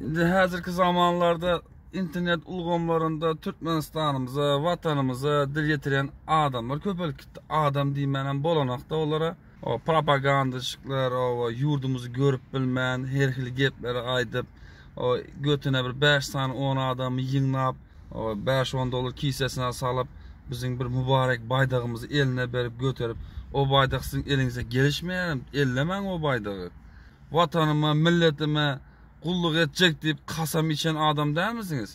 Indi häzirki zamanlarda internet ulgamlarynda Türkmenistanymyza, watanymyza dil ýetiren adamlar köpelip gitdi. Adam diýmänem bolanokda olara. O propagandaçyklar o ýurdumyzy görüp bilmän, her hili gepleri aýdyp, o götüne bir 5 sany 10 adamy ýygnap, o 5-10 dollar kisesine salyp, biziň bir mübarek baýdagymyzy eline berip göterip, o baýdak siziň eliňize gelişmeýärem, ellemäň o baýdagy. Watanyma, milletime gulluk etjek diýip kasam içen adam dälmisiňiz?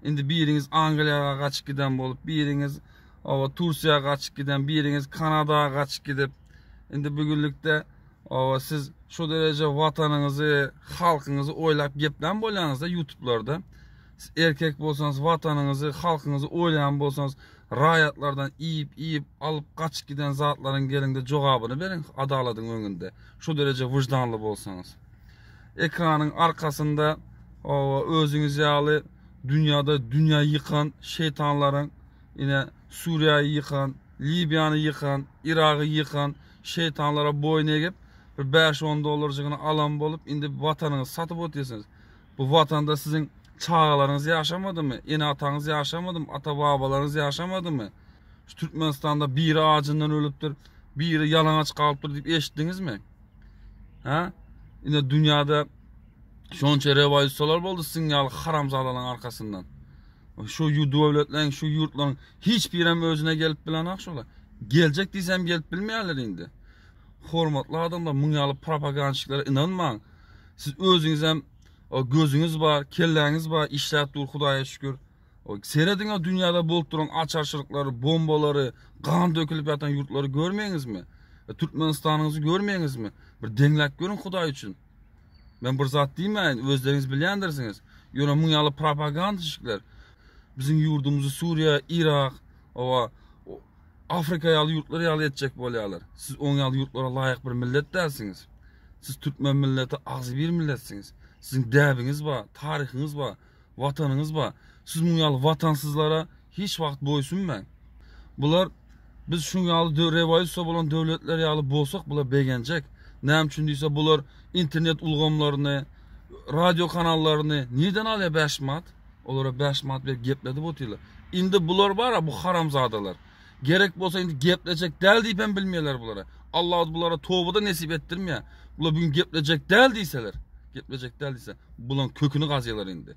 Indi biriňiz Angliýaga gaçyp giden bolup, biriňiz oba Tursiýa gaçyp giden, biriňiz Kanada gaçyp gidip, indi bu günlükde oba siz şu dereje watanyňyzy, halkyňyzy oýlap geplän bolýaňyzda ýutublarda. Siz erkek bolsaňyz, watanyňyzy, halkyňyzy oýlaýan bolsaňyz, raýatlardan iýip, iýip, alyp gaçyp giden zatlaryň gelinde jogabyny beriň adalatyň öňünde. Şu dereje wyždanly bolsaňyz. Ekranyň arkasynda owa özüňiz ýaly dünýäde dünýä ýykan şeýtanlaryň ine Suriýaýy ýykan, Libiýany ýykan, Iragy ýykan şeýtanlara boýun egip bir bäş-on dollarjygyny alan bolup indi watanyňyzy satyp otyrsyňyz. Bu watanda siziň çagalaryňyz ýaşamadymy, ene-ataňyz ýaşamadymy, ata-babalaryňyz ýaşamadymy? Şu Türkmenistanda biri ajyndan ölüpdir, biri ýalaňaç galypdyr diýip eşitdiňizmi? Hä? Ine dünýäde şonça rewolýusiýalar boldy siziň ýaly haramzadalaryň arkasyndan. Şu döwletleriň, şu ýurtlaryň hiç birem özüne gelip bilenok şolar. Geljek diýsem gelip bilmeýärler indi. Hormatly adamlar, muň ýaly propagandaçiklere ynanmaň. Siz özüňizem gözüňiz bar, kelläňiz bar, işläp dur Hudaýa şükür. Serediňa dünýäde bolup duran açarçylyklary, bombalary, gan dökülip ýatan ýurtlary görmeýiňizmi? E, Türkmenistanyňyzy görmeýiňizmi? Bir deňläp görüň Hudaý üçin. Men bir zat diýmäýin, özleriňiz bilýändirsiňiz. Ýöne muň ýaly propagandaçyklar biziň ýurdumyzy Suriýa, Irak, owa Afrika ýaly ýurtlar ýaly etjek bolýarlar. Siz oň ýaly ýurtlara laýyk bir millet dälsiňiz. Siz türkmen milleti agzybir milletsiňiz. Siziň däbiňiz bar, taryhyňyz bar, watanyňyz bar. Siz muň ýaly watansyzlara hiç wagt boýsunmaň. Bular biz şuň ýaly rewolýusiýa bolan döwletler ýaly bolsak bular begenjek. Näme üçin diýse bular internet ulgamlaryny, radio kanallaryny nirden alýar bäş manat? Olara bäş manat berip gepledip otyrlar. Indi bular bar-a, bu haramzadalar. Gerek bolsa indi geplejek däl diýip hem bilmeýärler bulara. Alla-da bulara toba-da nesip etdirmeýär. Bular bu gün geplejek däl diýseler, geplejek däl diýse, bularyň köküni gazýarlar indi.